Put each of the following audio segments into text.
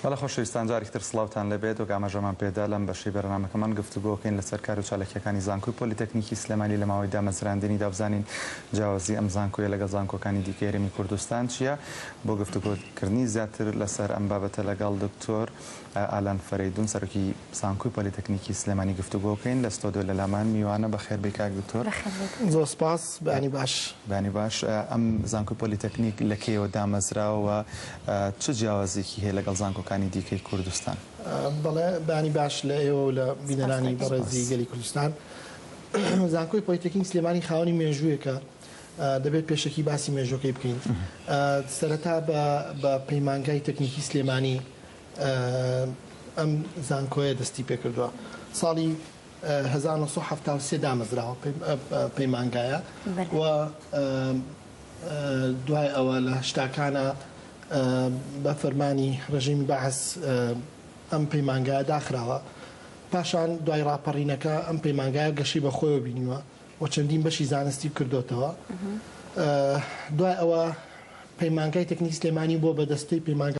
بەڵێ خۆشەویستان جارێکی تر سڵاوتان لێبێت، وەک ئاماژەمان پێدا لەم بەشەی بەرنامەکەمان گفتوگۆ ئەکەین لەسەر کار و چالاکییەکانی زانکۆی پۆلیتەکنیکی سلێمانی لە ماوەی دامەزراندنیدا بزانین جیاوازی ئەم زانکۆیە لەگەڵ زانکۆکانی دیکەی هەرێمی کوردستان چییە؟ بۆ گفتوگۆ کردنی زیاتر لەسەر ئەم بابەتە لەگەڵ دکتۆر ئالان فەرەیدون سەرۆکی زانکۆی پۆلیتەکنیکی سلێمانی گفتوگۆ کەین لە ستۆدیۆ لە لامان میوانە بەخێر بێی کاک دکتۆر. بەخێر بێیت. زۆر سپاس بەیانی باش. بەیانی باش ئەم زانکۆی پۆلیتەکنیک لە کەیەوە دامەزراوە و چ جیاوازیەکی هەیە لەگەڵ زانکۆکانی دیکەی کوردستان؟ بەڵێ بەیانی باش لە ئێوە و لە بینەرانی بەڕێزی گەلی کوردستان. زانکۆی پۆلیتەکنیک سلێمانی خاوەنی مێژوویەکە دەبێت پێشەکی باسی مێژووەکەی بکەین. سەرەتا بە بە پەیمانگای تەکنیکی سلێمانی ئەم زانکۆیە دەستی پێکردووە ساڵی هەزار و نۆ سەد و حەفتا و سێ دامەزراوە پەیمانگایە و دوای ئەوە لە هەشتاکانە بە فەرمانی ڕژیمی بەعس ئەم پەیمانگایە داخراوە پاشان دوای ڕاپەڕینەکە ئەم پەیمانگایە گەشی بە خۆیەوە بینیوە و چەندین بەشی زانستی کردوتەوە دوای ئەوە پەیمانگای تەکنیک سلێمانی بۆ بە دەستەی پەیمانگا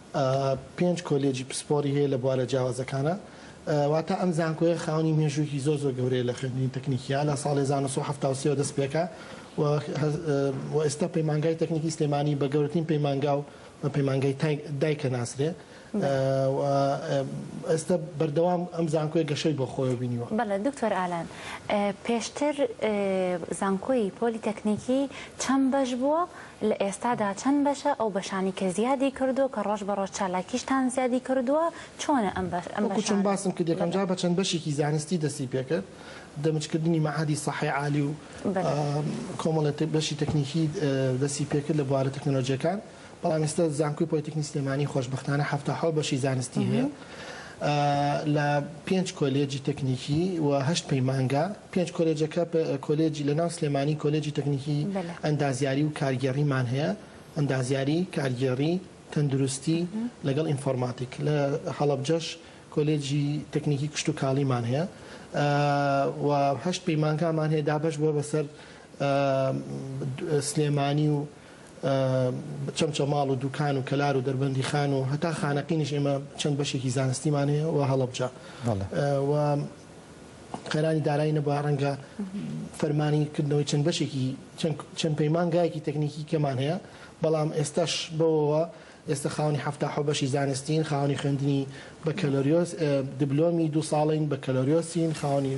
پێنج کۆلێجی پسپۆڕی هەیە لە بوارە جیاوازەکانا، واتە ئەم زانکۆیە خاوەنی مێژوویەکی زۆر زۆر گەورەیە لە خوێندنی تەکنیکیا، لە ساڵێ هەزار و نۆ سەد و حەفتا و سێ وە دەست پێکا و و ئێستا پەیمانگای تەکنیکی سلێمانی بە گەورەترین پەیمانگا و بە پەیمانگای دایکە ناسرێ و ئێستا بەردەوام ئەم زانکۆیە گەشەی بۆ خۆیەوە بینیوە. بەڵێ دکتۆر ئالان پێشتر زانکۆی پۆلی تەکنیکی چەند بەش بووە؟ لە ئێستادا چەند بەشە ئەو بەشانی کە زیادی کردووە کە ڕۆژ بە ڕۆژ چالاکیشتان زیادی کردووە چۆنە ئەم بەشانە؟ وەکو چۆن باسم کرد یەکەم جار بە چەند بەشێکی زانستی دەستی پێکرد دەمج کردنی مەعهەدی سەحی عالی و کۆمەڵێ بەشی تەکنیکی دەستی پێکرد لە بوارە تەکنەلۆجیەکان بەڵام ئێستا زانکۆی پۆلیتەکنی سلێمانی خۆشبەختانە حەفتا حەوت بەشی زانستی هەیە لە پێنج کۆلێجی تەکنیکی و هەشت پەیمانگا پێنج کۆلێجەکە کۆلێجی لە ناو سلێمانی کۆلێجی تەکنیکی ئەندازیاری و کارگێڕیمان هەیە ئەندازیاری کارگێڕی تەندروستی لەگەڵ ئینفۆرماتیک لە هەڵبجەش کۆلێجی تەکنیکی کشت و کاڵیمان هەیە و هەشت پەیمانگامان هەیە دابش بووە بەسەر سلێمانی و چەمچەماڵ و دوکان و کەلار و دەربەندیخان و هەتا خانەقینیش ئێمە چەند بەشێکی زانستیمان هەیە و هەڵەبجە و قەیرانی دارایی نەبووە ڕەنگە فەرمانی کردنەوەی چەند بەشێکی چەند پەیمانگایەکی تەکنیکی کەمان هەیە بەڵام ئێستاش بەوەوە ئێستا خاوەنی حەفتا حەوت بەشی زانستین، خاوەنی خوێندنی بەکەلۆریۆس، دبلۆمی دوو ساڵەین بەکەلۆریۆسین، خاوەنی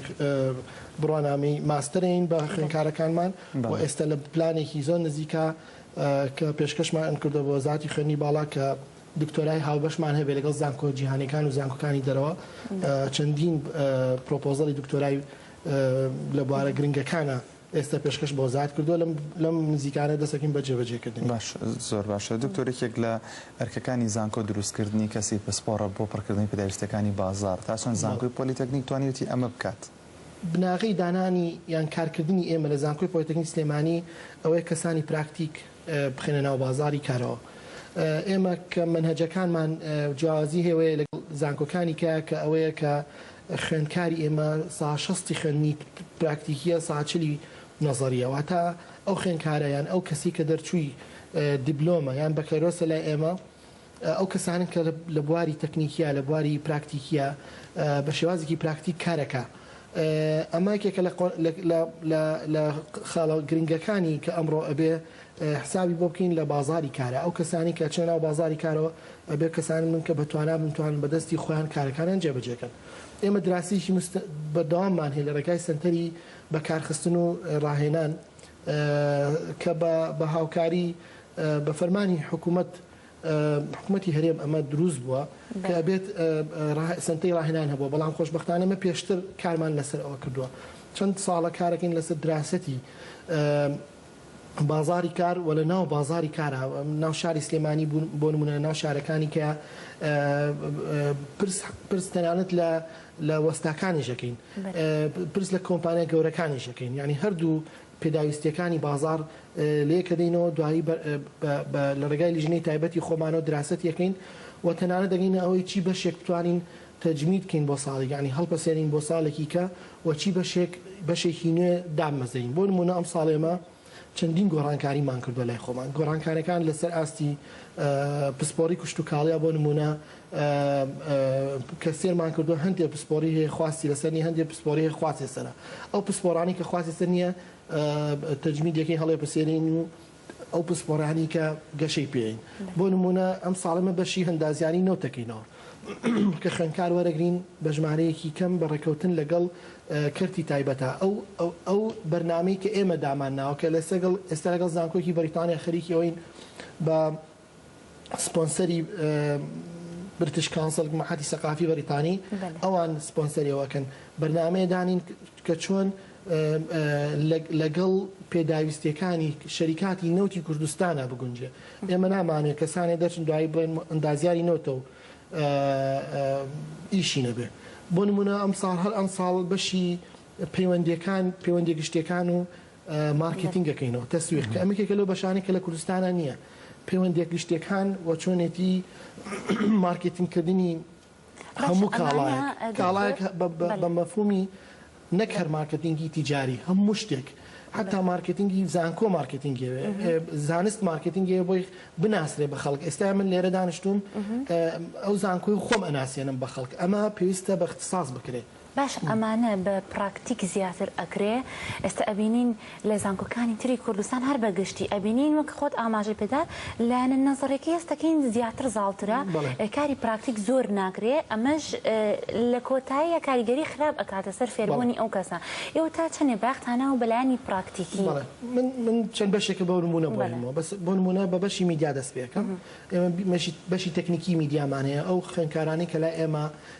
بڕوانامەی ماستەرین بە خوێندکارەکانمان و ئێستا لە پلانێکی زۆر نزیکا کە پێشکەشمان کردوە بە وەزارەتی خوێندنی باڵا کە دکتۆرای هاوبەشمان هەبێ لەگەڵ زانکۆ جیهانیەکان و زانکۆکانی دەرەوە چەندین پرۆپۆزەڵی دکتۆرای لە بوارە گرنگەکانا ئێستە پێشکەش بۆ زات کردووە لەم لەم نزیکانە دەسەکەین بە جێبەجێکردنی. باش زۆر باشە دکتۆر یەکێک لە ئەرکەکانی زانکۆ دروستکردنی کەسی پسپۆڕە بۆ پڕکردنی پێداویستیەکانی بازاڕ تا چەند زانکۆی پۆلیتەکنیک توانیوتی ئەمە بکات؟ بناغەی دانانی یان کارکردنی ئێمە لە زانکۆی پۆلیتەکنیک سلێمانی ئەوەیە کەسانی پراکتیک بخەینە ناو بازاڕی کارەوە. ئێمە کە مەنهەجەکانمان جیاوازی هەیەوەیە لەگەڵ زانکۆکانی کە کە ئەوەیە کە خوێندکاری ئێمە سا شەستی خوێندنی پراکتیکیە سا چلی نەزەریە واتا ئەو خوێندکارە یان ئەو کەسی کە دەرچووی دیبلۆمە یان بەکەرۆسە لای ئێمە ئەو کەسانەن کە لە بواری تەکنیکیە لە بواری پراکتیکیە بە شێوازێکی پراکتیک کارەکە ئەمە یەکێکە لە خاڵە گرنگەکانی کە ئەمڕۆ ئەبێ حسابی بۆ بکەین لە بازاری کارە ئەو کەسانی کە چێ ناو بازاری کارەوە ئەبێ کەسانی من کە بەتوانا بنتوان بەدەستی خۆیان کارەکانیان جێبەجێکەن ئێمە دراسیکی بەردەواممان هەیە لە ڕێگای سنتەری بەکارخستن و ڕاهێنان کە بە هاوکاری بە فەرمانی حکومەت حکومەتی هەرێم ئەمە دروست بووە کە بێت سنتەی ڕاهێنان هەبووە بەڵام خۆشببختانە مە پێشتر کارمان لەسەر ئەوە کردووە چەند ساڵە کارەکەین لەسەر دراستی بازاری کار و لە ناو بازاری کارە ناو شاری سلێمانی بوون بۆ نمونە ناو شارەکانی کە پرس تەنانەت لە لە وەستاکانیشەکەین پرس لە کۆمپانیا گەورەکانیشەکەین ینی هەردوو پێداویستییەکانی بازاڕ لەیەکەدەینەوە، دوایی بە لە ڕێگای لیژنەی تایبەتی خۆمانەوە دراسەتی ئەکەین و تەنانەت دەگەینە ئەوەی چی بەشێک بتوانین تەجمید کەین بۆ ساڵێک یانی هەڵپەسێرین بۆ ساڵێکی کە و چی بەشێک بەشێکی نوێ دابمەزرێین بۆ نموونە ئەمساڵ ئێمە چەندین گۆڕانکاریمان کردووە لای خۆمان گۆڕانکارەکان لەسەر ئاستی پسپۆڕی کشتوکاڵیە بۆ نموونە کە سێرمان کردوە هەندێ پسپۆری هەیە خواستی لەسەر نیە هەندێ پسپۆری هەیە خواستی لەسەرە ئەو پسپۆرانی کە خواستی سەر نیە تەجمیدەکەی هەڵێ پسێرین و ئەو پسپۆرانی کە گەشەی پێین بۆ نمونە ئەم ساڵمە بەشی هەندازیانی نەوتەکەینەوە کە خوێنکار وەرەگرین بە ژمارەیەکی کەم بە ڕێکەوتن لەگەڵ کەرتی تایبەتە ئەو ئەو بەرنمەی کە ئێمە دامان ناوکە لەسەگەڵ ئێستا لەگەڵ زانکۆکی بەریتانیا خەریکی ئەوین بە سپۆنسەری برتش کانسڵ مەحەتی سەقافی بەریتانی ئەوان سپۆنسەریەوەکەن بەرنمەیە دانین کە چۆن لەگەڵ پێداویستیەکانی شەریکاتی نەوتی کوردستانە بگونجێ ئێمە نامانێت کەسانێ دەچن دوایی بڵێن ئەندازیاری نەوتە و ئیشی نەبێ بۆ نمونە ئەم ساڵ هەر ئەم ساڵ بەشی پەیوەندەکان پەیوەندی گشتەکان و مارکێتینگەکەین و تەسویق کە ئەمە یەکێکە لەو بەشانەی کە لە کوردستانا نییە پەیوەندییە گشتییەکان و چۆنێتی مارکێتینگکردنی هەموو کاڵایەک کاڵایەک بە مەفهوومی نەک هەر مارکێتینگی تیجاری هەموو شتێک حتا مارکێتینگی زانکۆ مارکێتینگی زانست مارکێتینگی بۆی بناسرێ بە خەڵک ئێستا من لێرە دانیشتوم ئەو زانکۆی خۆم ئەناسیێنم بە خەڵک ئەمە پێویستە بە اختصاص بکرێت باشە ئەمانە بە پراکتیک زیاتر ئەکرێ ئێستا ئەبینین لە زانکۆکانی تری کوردستان هەر بە گشتی ئەبینین وەک خۆت ئاماژەی پێدا لایەنە نەزەڕێکی هەستەکەین زیاتر زاڵترە کاری پراکتیک زۆر ناکرێ ئەمەش لە کۆتاییە کاریگەری خراپ ئەکاتە سەر فێربوونی ئەو کەسە ئێوە تا چەندێ باختانەوە بەلایانی پراکتیکی من من چەند بەشێکە بەو نمونە بۆنەوە بەس بۆ نمونە بە بەشی میدیا دەست پێکەم ئێمە بەشی تەکنیکی میدیامان هەیە ئەو خوێنکارانی کە لای ئێمە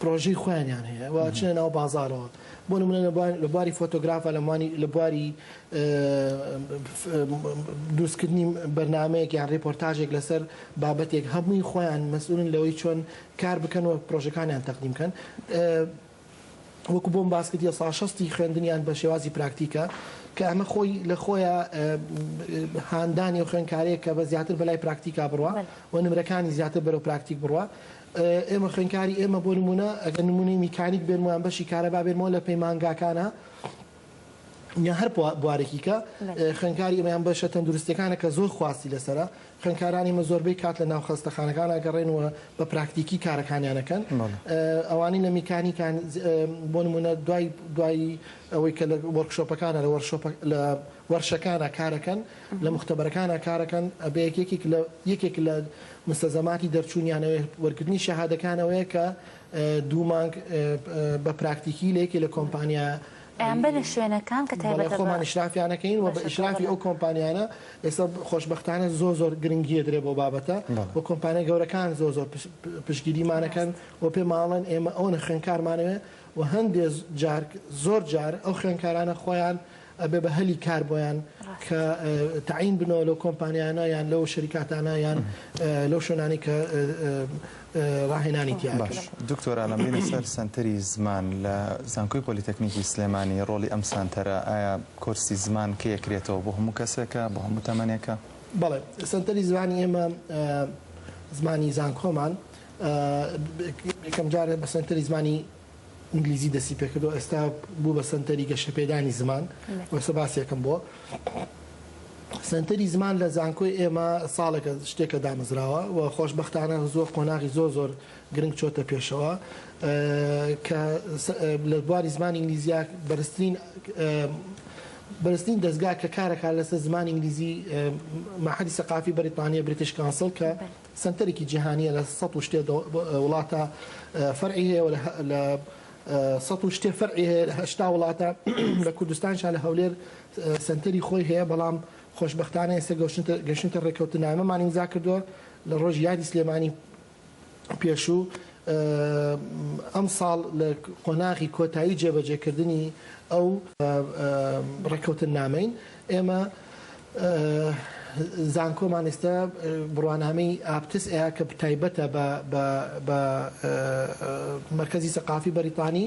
پرۆژەی خۆیانیان هەیە و ئەچنە ناو بازاڕەوە بۆ نمونە لە بواری فۆتۆگرافە لەمانی لە بواری دروستکردنی بەرنمەیەک یان ڕێپۆرتاژێک لەسەر بابەتێک هەمووی خۆیان مەسئولن لەوەی چۆن کار بکەن و پرۆژەکانیان تەقدیم بکەن وەکو بۆم باس کردیە ساڵ شەستی خوێندنیان بە شێوازی پراکتیکە کە ئەمە خۆی لە خۆیە هاندانی و خوێنکارەیە کە بە زیاتر بەلای پراکتیکا بڕە و نمرەکانی زیاتر بەرەو پراکتیک بڕە ئێمە خوێنکاری ئێمە بۆ نمونە ئەگە نمونەی میکانیک بێنمویان بەشی کارەبا بێنمەوە لە پەیمانگاکانە یان هەر بوارێکی کە خوێندکاری ئێمە یان بەشە تەندروستیەکانە کە زۆر خواستی لەسرە خوێندکارانی مە زۆربەی کات لە ناو خەستەخانەکان ئەگەڕێن و بە پراکتیکی کارەکانیانەکەن ئەوانەی لە میکانیکان بۆ نمونە دوای دوایی ئەوەی کە لە وەرکشۆپەکانە لە لە وەرشەکانە کارەکەن لە مختبەرەکانە کارەکەن ئەبێ یەکێک لە یەکێک لە مستەزەماتی دەرچوونیانەوەی وەرگرتنی شەهادەکانەوەیە کە دوو مانگ بە پراکتیکی لە یەکێ لە کۆمپانیا ئەیان بەرن شوێنەکان کە تایبەتە بە بەڵێ خۆمان ئیشرافیان ئەکەین و بە ئیشرافی ئەو کۆمپانیانە ئێستا خۆشبەختانە زۆر زۆر گرنگی ئەدرێ بەو بابەتە و کۆمپانیا گەورەکان زۆر زۆر پشتگیریمان ئەکەن و پێمان ئەڵێن ئێمە ئەوەنە خوێندکارمانەوێ و هەندێ جار زۆر جار ئەو خوێندکارانە خۆیان ئەبێ بە هەلی کار بۆیان کە تەعین بنەوە لەو کۆمپانیانە یان لەو شەریکاتانە یان لەو شوێنانی کە ڕاهێنانی تیا باش دکتۆرا لەم بینە سەر سەنتەری زمان لە زانکۆی پۆلیتەکنیکی سلێمانی ڕۆڵی ئەم سانتەرە ئایا کۆرسی زمان کە یەکرێتەوە بۆ هەموو کەسێکە بۆ هەموو تەمەنێکە بەڵێ سەنتەری زمانی ئێمە زمانی زانکۆمان یەکەم جارێ بە سەنتەری زمانی ئینگلیزی دەستی پێکردەوە ئێستا بوو بە سەنتەری گەشەپێدانی زمان و ئێستا باسێکم بۆ سەنتەری زمان لە زانکۆی ئێمە ساڵێکە شتێکە دامەزراوە و خۆشببختانە زۆر قۆناغی زۆر زۆر گرنگ چۆتە پێشەوە کە لە بواری زمان ئینگلیزیا بەرزترین بەرزترین دەستگا کە کارەکە لەسەر زمان ئینگلیزی مەحەدی سەقافی بەریتانیا بریتش کانسڵ کە سەنتەرێکی جیهانیە لە سەد و شتێ وڵاتە فەرعی هەیە و لە سەد و شتێ فەرعی هەیە لە هەشتا وڵاتە لە کوردستانشا لە هەولێر سەنتەری خۆی هەیە بەڵام خۆشببختانە ئێستا گەشتە ڕێککەوتنامەمان ئیمزا کردووە لە ڕۆژ یادی سلێمانی پێشوو ئەم ساڵ لە قۆناغی کۆتایی جێبەجێکردنی ئەو ڕێککەوتن نامەین ئێمە زانکۆمان ئێستا بڕوانامەی ئاپتس ئەیا کە تایبەتە بە مرکزی سەقافی بەریتانی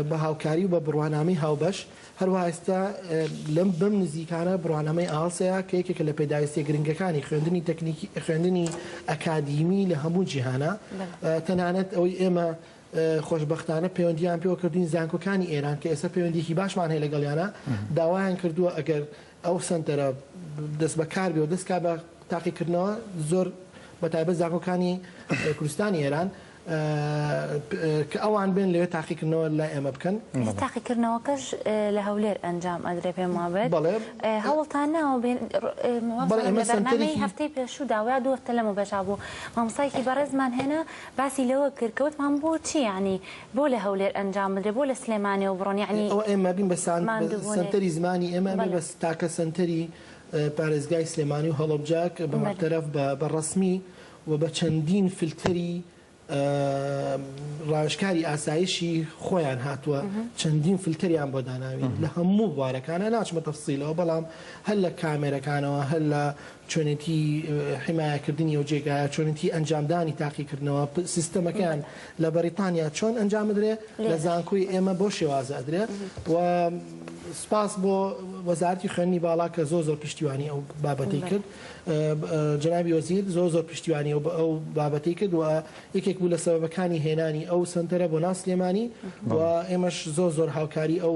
بە هاوکاری و بە بڕوانامەی هاوبەش هەروە ئێستا لەم بەم نزیکانە بڕوانامەی ئاڵسەیە کە یەکێکە لە پێداویستە گرنگەکانی خوێندنی تەکنیکی خوێندنی ئەکادیمی لە هەموو جیهانە تەنانەت ئەوەی ئێمە خۆشبەختانە پەیوەندییان پێوە کردووین، زانکۆکانی ئێران کە ئێستا پەیوەندییەکی باشمان هەیە لەگەڵیانا، داوایان کردووە ئەگەر ئەو سەنتەرە دەستبەکار بێ و دەست کا بە تاقیکردنەوە زۆر بە تایبەت زانکۆکانی کوردستانی ئێران کە ئەوان بێن لەوێ تاقیکردنەوە لای ئێمە بکەن. ئێستا تاقیکردنەوەکەش لە هەولێر ئەنجام ئەدرێ پێم وا بێت. بەڵێ. هەوڵتان ناوە بێن مامۆستا، لە بەرنامەی هەفتەی پێشوو داوا دوو هەفتە لەمەوبەشا بوو مامۆستایەکی بەڕێزمان هێنا، باسی لەوە کرد کە وتمان بۆ چی یانی بۆ لە هەولێر ئەنجام بدرێ بۆ لە سلێمانیەوە بڕۆن یانی ئەوە ئێمە بین بە سان ماندوو بونێ سەنتەری زمانی ئێمە ئەبێ بەڵێ. بە تاکە سەنتەری پارێزگای سلێمانی و هەڵەبجە کە بە بەلێ. مەرتەرەف بە بە ڕەسمی و بە چەندین فلتەری ڕاوێژکاری ئاسایشی خۆیان هاتوە چەندین فلتەریان بۆ داناوین لە هەموو بوارەکانا ناچمە تەفسیلەوە بەڵام هەر لە کامێرەکانەوە هەر لە چۆنێتی حیمایەکردنی ئەو جێگایە، چۆنێتی ئەنجامدانی تاقیکردنەوە، سیستەمەکەیان لە بەریتانیا چۆن ئەنجام ئەدرێ، لە زانکۆی ئێمە بەو شێوازە ئەدرێ و سپاس بۆ وەزارەتی خوێندنی باڵا کە زۆر زۆر پشتیوانی ئەو بابەتەی کرد. جەنابی وەزیر زۆر زۆر پشتیوانی ئەو ئەو بابەتەی کرد و یەکێک بوو لە سەبەبەکانی هێنانی ئەو سەنتەرە بۆ ناو سلێمانی و ئێمەش زۆر زۆر هاوکاری ئەو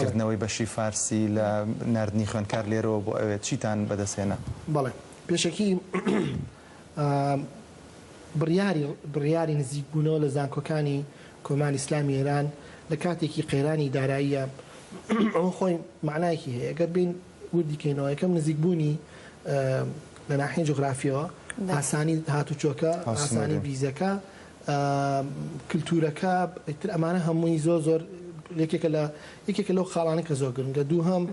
کردنەوەی بەشی فارسی لە ناردنی خوێندکار لێرەوە بۆ ئەوێ چیتان بەدەست هێنا؟ بەڵێ پێشەکی بڕیاری بڕیاری نزیک بوونەوە لە زانکۆکانی کۆماری ئیسلامی ئێران لە کاتێکی قەیرانی داراییە ئەوە خۆی مەعنایەکی هەیە گەر بێین وردی کەینەوە یەکەم نزیک بوونی لە ناحیەی جوغرافیەوە ئاسانی هاتوچۆکە ئاسانی ڤیزەکە کلتورەکە ئیتر ئەمانە هەمووی زۆر زۆر یەکێکە لە یەکێکە لەو خاڵانە کە زۆر گرنگە دووهەم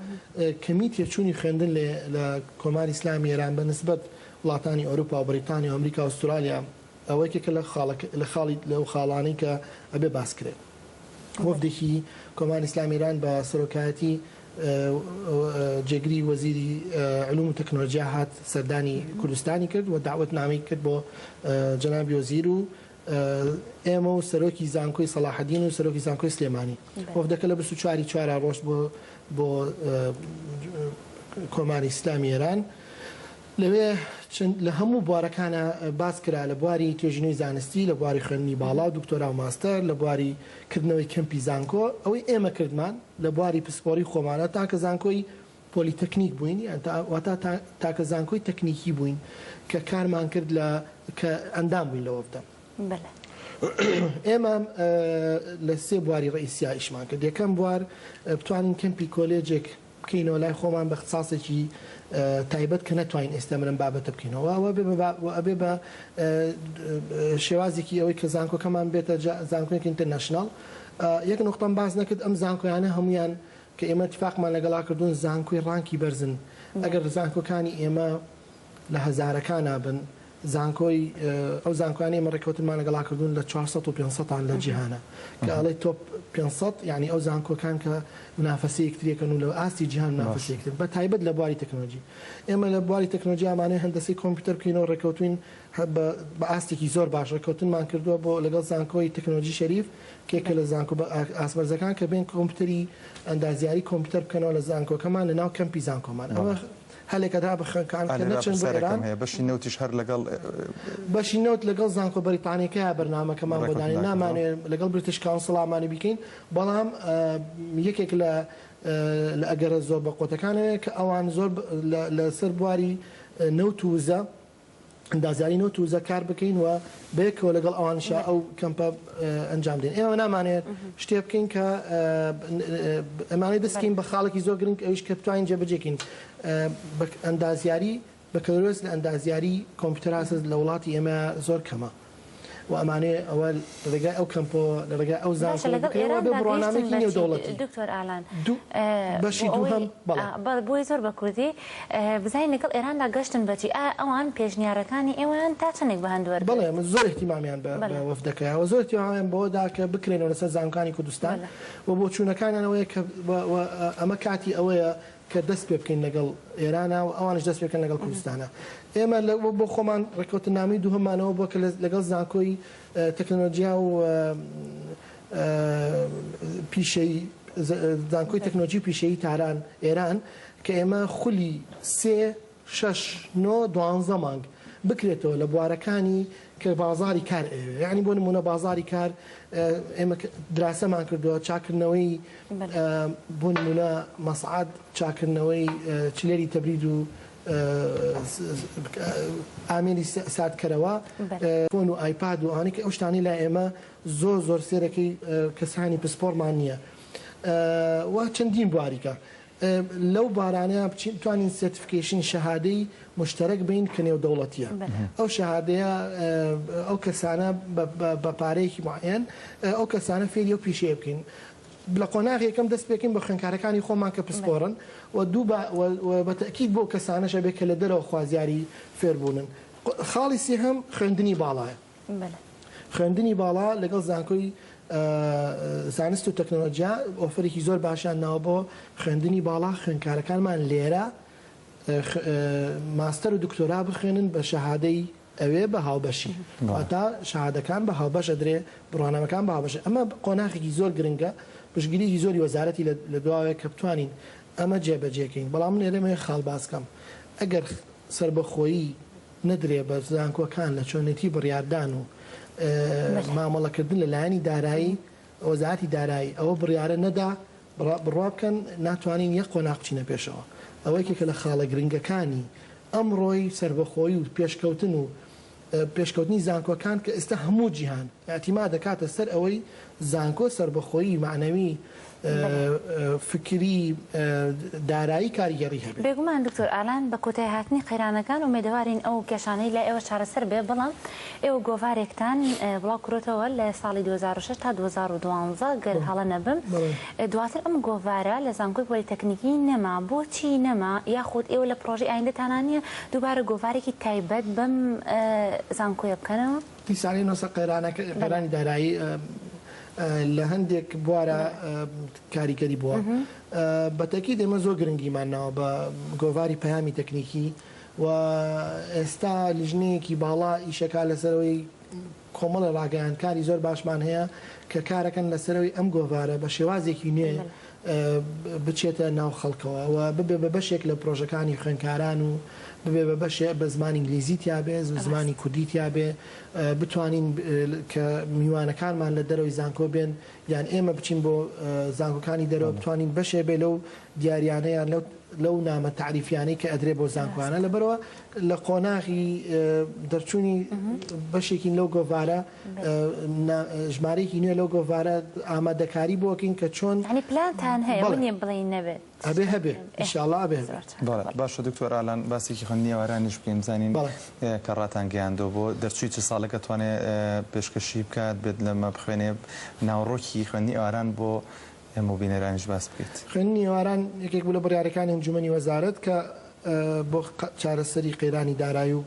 کەمی تێچووی خوێندن لێ لە کۆماری ئیسلامی ئێران بە نسبەت وڵاتانی ئەوروپا و بەریتانیا و ئەمریکا و ئوسترالیا ئەوە یەکێکە لە خاڵەکە لە خاڵی لەو خاڵانەی کە ئەبێ باس کرێ. وەفدێکی کۆماری ئیسلامی ئێران بە سەرۆکایەتی جێگری وەزیری علوم و تەکنۆلۆجیا هات سەردانی کوردستانی کرد و داوەتنامەی کرد بۆ جەنابی وەزیر و ئێمە و سەرۆکی زانکۆی سەلاحدین و سەرۆکی زانکۆی سلێمانی وەفدەکە لە 24 چوارا ڕۆشت بۆ بۆ کۆماری ئیسلامی ئێران لەوێ چەند لە هەموو بوارەکانا باس کرا، لە بواری توێژینەوەی زانستی، لە بواری خوێندنی باڵا و دکتۆرا و ماستەر، لە بواری کردنەوەی کەمپی زانکۆ، ئەوەی ئێمە کردمان لە بواری پسپۆری خۆمانا تاکە زانکۆی پۆلیتەکنیک بووین یان تا واتا تا تاکە زانکۆی تەکنیکی بووین کە کارمان کرد لە کە ئەندام بووین لە وەفدە. بەلێ. ئێمە لە سێ بواری ڕئیسیا ئیشمان کرد، یەکەم بوار بتوانین کەمپی کۆلێجێک، بکەینەوە لای خۆمان بە اختساسێکی تایبەت کە نەتوانین ئێستا من ئەم بابەتە بکەینەوە و ئەبێ بە و ئەبێ بە شێوازێکی ئەوەی کە زانکۆکەمان بێتە زانکۆیەکی ئینتەرنەشناڵ یەک نقطەم باس نەکرد ئەم زانکۆیانە هەمویان کە ئێمە اتفاقمان لەگەڵا کردوون زانکۆی ڕانکی بەرزن ئەگەر زانکۆکانی ئێمە لە هەزارەکانا بن زانکۆی ئەو زانکۆیانەی ئێمە ڕێکەوتنمان لەگەڵا کردوون لە چوار سەد و پێنج سەدان لە جیهانا کە ئەڵێی تۆپ پێنج سەد یانی ئەو زانکۆکان کە منافەسەی یەکتریەکەن و لە ئاستی جیهان منافەسەی یەکترن بە تایبەت لە بواری تەکنۆلۆجی ئێمە لە بواری تەکنۆلۆجی ئامانەی هەندەسەی کۆمپیوتەر بکەینەوە ڕێکەوتووین بە ئاستێکی زۆر باش ڕێکەوتنمان کردووە بۆ لەگەڵ زانکۆی تەکنۆلۆجی شەریف کە یەکێ لە زانکۆ بە ئاست بەرزەکان کە بێن کۆمپیوتەری ئەندازیاری کۆمپیوتەر بکەنەوە لە زانکۆکەمان لەناو کەمپی زانکۆمان ئەوە هەلێکە دابخەن کە ئەنکەر نەچن بۆ ئێران. بەشی نەوتیش هەر لەگەڵ. بەشی نەوت لەگەڵ زانکۆ بەریتانیەکەیە بەرنامەکەمان بۆ دانێن نامانەوێ لەگەڵ بریتش کاونسڵ ئامانی بیکەین بەڵام یەکێک لە لە ئەگەرە زۆر بەقوەتەکانەوێ کە ئەوان زۆر لە لەسەر بواری نەوت و وزە ئەندازیاری نەوت و وزە کار بکەین و بەیەکەوە لەگەڵ ئەوانیشا ئەو کەمپە ئەنجام بدەین. ئێمە نامانەوێت شتێ بکەین کە ئەمانەوێت دەست بکەین بە خاڵێکی زۆر گرنگ ئەویش کە بتوانین جێبەجێ بکەین. ئەندازیاری بەکالۆریۆس لە ئەندازیاری کۆمپیوتەر هەست لە وڵاتی ئێمە زۆر کەمە. و ئەمانەیە ئەوە لە ڕێگای ئەو کەمپۆ لە ڕێگای ئەو زانکۆ بکرێ وابێ بڕوانامەیەکی نێودەوڵەتی دکتۆر ئالان بەشی دووهەم بەڵێ بۆی زۆر بە کوردی بزانین لەگەڵ ئێراندا گەشتن بەچی ئەوان پێشنیارەکانی ئێوەیان تا چەندێک بە هەندوەر بڵێ من زۆر احتیمامیان بە وەفدەکەیەوە زۆر تیاوایان بەوەدا کە بکرێنەوە لەسەر زانکانی کوردستان و بۆ چوونەکانیانەوەیە کە ئەمە کاتی ئەوەیە کە دەست پێ بکەین لەگەڵ ئێرانا و ئەوانیش دەست پێ بکەن لەگەڵ کوردستانا. ئێمە لە بۆ خۆمان ڕێککەوتننامەی دووهەممان ئەوە بووە کە لەگەڵ زانکۆی تەکنەلۆجیا و پیشەی، زانکۆی تەکنەلۆجی و پیشەیی تاران، ئێران، کە ئێمە خولی سێ، شەش نۆ دوانزە مانگ بکرێتەوە لە بوارەکانی کە بازاری کار ئەیەوێ یانی بۆ نمونە بازاری کار ئێمە دراسەمان کردووە چاکردنەوەی بۆ نمونە مەسعات چاکردنەوەی چلێری تەبرید و ئامێری ساردکەرەوە فۆن و ئایپاد و ئانی کە ئەو شتانی لا ئێمە زۆر زۆر سێرەکەی کەسانی پسپۆڕمان نییە و چەندین بواریکە لەو بارانەیان بچین بتوانین سێرتفکەیشن شەهادەی موشتەرەک بین کە نێودەوڵەتیە ئەو شەهادەیە ئەو کەسانە بە پارەیەکی معەن ئەو کەسانە فێری ئەو پیشەیە بکەین لە قۆناغ یەکەم دەست پێکەین بە خوێنکارەکانی خۆمان کە پسپۆڕن و دوو بە تەکیید بۆ کەسانەشە بێ کە لە دەرەوە خوازیاری فێربوونن خاڵی سێهەم خوێندنی باڵایە بەلێ. خوێندنی باڵا لەگەڵ زانکۆی زانست و تەکنەلۆجیا ئۆفەرێکی زۆر باشیان ناوە بۆ خوێندنی باڵا خوێندکارەکانمان لێرە ماستەر و دکتۆرا بخوێنن بە شەهادەی ئەوێ بە هاوبەشی واتا شەهادەکان بە هاوبەش ئەدرێ بڕوانامەکان بە هاوبەش ئەمە قۆناخێکی زۆر گرنگە پشگیریی زۆری وەزارەتی لە دواوەیە کە بتوانین ئەمە جێبەجێکەین بەڵام من لێرەمەیە خاڵ باسکەم ئەگەر سربەخۆیی نەدرێ بە زانکۆکان لە چۆنێتی بڕیاردان و مامەڵەکردن لە لایەنی دارایی وەزارەتی دارایی ئەوە بڕیارە نەدا بڕوا بکەن ناتوانین یەک قۆناغ بچینە پێشەوە ئەوە یەکێکە لە خاڵە گرنگەکانی ئەمڕۆی سەربەخۆی و پێشکەوتن و پێشکەوتنی زانکۆکان کە ئێستا هەموو جیهان ئەتیما دەکاتە سەر ئەوەی زانکۆ سەربەخۆیی معنەوی فکری، دارایی کاریگەڕی هەبێ. بێگومان دکتۆر ئالان، بە کۆتای هاتنی قەیرانەکان ئومێدەوارین ئەو کێشانەی لای ئێوە چارەسەر بێ، بەڵام ئێوە گۆڤارێکتان بڵاو کروتەوە لە ساڵی دوو هەزار و شەش تا دوو هەزار و دوازدە گەر هەڵە نەبم، دواتر ئەم گۆڤارە لە زانکۆی پۆلیتەکنیکی نەما، بۆچی نەما؟ یاخود ئێوە لە پرۆژەی ئایندەتانا نییە دووبارە گۆڤارێکی تایبەت بەم زانکۆیە بکەنەوە؟ دیسانەی نۆسە قەیرانەکە قەیرانی دارایی لە هەندێک بوارە کاریگەری بووە بە تەکی دێمە زۆر گرنگیمان ناوە بە گۆڤاری پەیامی تەکنیکی و ئێستا لیژنەیەکی باڵا ئیشەکە لەسەرەوەی کۆمەڵە ڕاگەیانکاری زۆر باشمان هەیە کە کارەکەن لەسەرەوەی ئەم گۆڤارە بە شێوازێکی نوێ بچێتە ناو خەڵکەوە و ببێ بە بەشێک لە پرۆژەکانی خوێنکاران و ببێ بە بەشێ بە زمانی ئینگلیزی تیابێ زو زمانی کوردی تیابێ بتوانین کە میوانەکانمان لە دەرەوەی زانکۆ بێن یان ئێمە بچین بۆ زانکۆکانی دەرەوە بتوانین بەشێ بێ لەو دیاریانەیان لەو لەو نامە تعریفیانەی کە ئەدرێ بۆ زانکۆیانە لەبەرەوە لە قۆناغی دەرچوونی بەشێکین لەو گۆڤارە ژمارەیەکی نوێ لەو گۆڤارە ئامادەکاری بۆ کەین کە چۆن. یانی پلانتان هەیە ئەوە نیە بڵێین نەبێت. ئەبێ هەبێ ان شاء اللە ئەبێ هەبێ. بەڵێ باشە دکتۆر ئالان باسێکی خوێندنیێوارانیش بکەین بزانین کە ڕاتان گەیاندوە بۆ دەرچوی چ ساڵێک ئەتوانێ پێشکەشی بکات بێت لە مەبخوێنێ ناوڕۆکی خوێندنی ئێواران بۆ ئێمە و بینەرانیش باس بکەیت. خوێندنی ئێواران یەکێک بوو لە بڕیارەکانی ئەنجومەنی وەزارەت کە بۆ چارەسەری قەیرانی دارایی و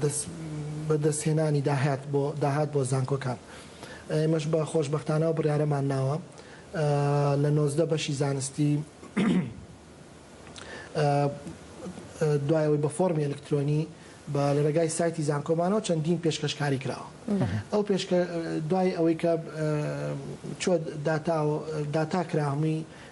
دەست بەدەست هێنانی داهات بۆ داهات بۆ زانکۆکان ئێمەش بە خۆشبەختانە ئەو بڕیارەمان ناوە لە نۆزدە بەشی زانستی دوای ئەوەی بە فۆرمی ئەلکترۆنی بە لە رێگای سایتی زانکۆمانەوە چەندین پێشکەشکاری کراوە ئەو پێشکە دوای ئەوەی کە چۆ داتا داتا کرا هەمووی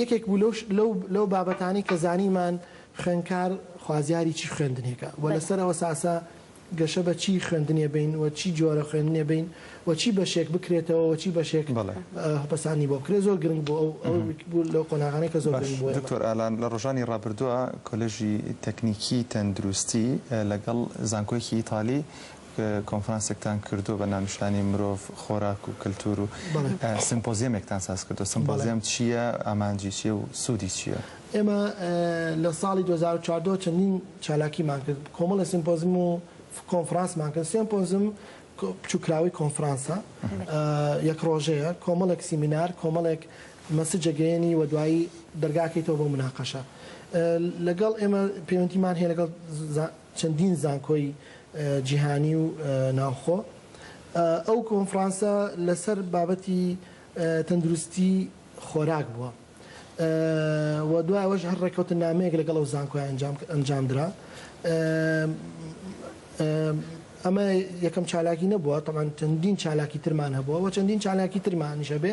یەکێک بوو لەو لەو لەو بابەتانەی کە زانیمان خوێندکار خوازیاری چی خوێندنێکە و بەلێ. لەسەر ئەو ئەساسە گەشە بە چی خوێندنێ بەین و چی جۆرە خوێندنێ بەین و چی بەشێک بکرێتەوە و چی بەشێک بەڵێ. هپەساندی بۆ بکرێ زۆر گرنگ بوو ئەو ئەو ئەها. بوو لەو قۆناغانەی کە زۆر گرنگ باش بوو ئێمە. دکتۆر ئالان لە ڕۆژانی ڕابردووە کۆلێژی تەکنیکی تەندروستی لەگەڵ زانکۆیەکی ئیتالی کۆنفرانسێکتان کردووە بە ناونیشانی مرۆڤ، خۆراک و کەلتوور و سمپۆزیەمێکتان ساز کردووە، سمپۆزیەم چییە، ئامانجی چییە و سوودی چییە؟ ئێمە لە ساڵی دوو هەزار و چواردە چەندین چالاکیمان کرد، کۆمەڵێ سمپۆزم و کۆنفرانسمان کرد، سمپۆزم بچووککراوەی کۆنفرانسە یەک ڕۆژەیە، کۆمەڵێک سیمینار، کۆمەڵێک مەسجەگەیەنی و دوایی دەرگاکەیتەوە بۆ مناقەشە لەگەڵ ئێمە پەیوەندیمان هەیە لەگەڵ چەندین زانکۆی جیهانی و ناوخۆ ئەو کۆنفرانسە لەسەر بابەتی تەندروستی خۆراک بووە و دوای ئەوەش هەر ڕێکەوتنامەیەک لەگەڵ ئەو زانکۆی ئەنجامدرا ئەمە یەکەم چالاکی نەبووە تەمان چەندین چالاکی ترمان هەبووە و چەندین چالاکی ترمانیش هەبێ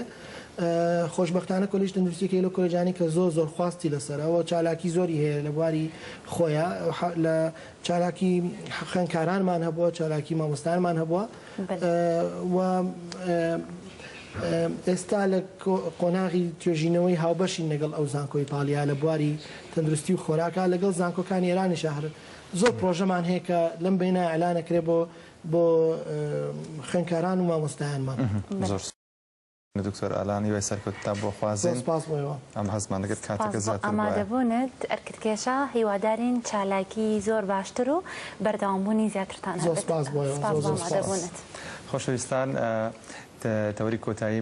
خۆشبەختانە کۆلیژ تەندروستی یەکێک لەو کۆلێجانەی کە زۆر زۆر خواستی لەسەرە و چالاکی زۆری هەیە لە بواری خۆیا لە چالاکی خوێندکارانمان هەبووە چالاکی مامۆستایانمان هەبووە و ئێستا لە قۆناغی توێژینەوەی هاوبەشین لەگەڵ ئەو زانکۆی ئیتاڵیا لە بواری تەندروستی و خۆراکە لەگەڵ زانکۆکانی ئێرانی شەهر زۆر پرۆژەمان هەیە کە لەم بینە ئەلانەکرێ بۆ بۆ خوێندکاران و مامۆستایانمان زۆر دکتۆر ئالان هیوای سەرکەوتنتان بۆ خوازین. زۆر سپاس بۆ ئێوە. ئەم هەستمان دەکرد کاتەکە زیاتر بایە. سپاس بۆ ئامادەبوونت ئەرکت کێشا، هیوادارین چالاکی زۆر باشتر و بەردەوام بوونی زیاترتان هەبێت. زۆر سپاس بۆ ئێوە. سپاس بۆ ئامادەبوونت. خۆشەویستان تەوەری کۆتایی.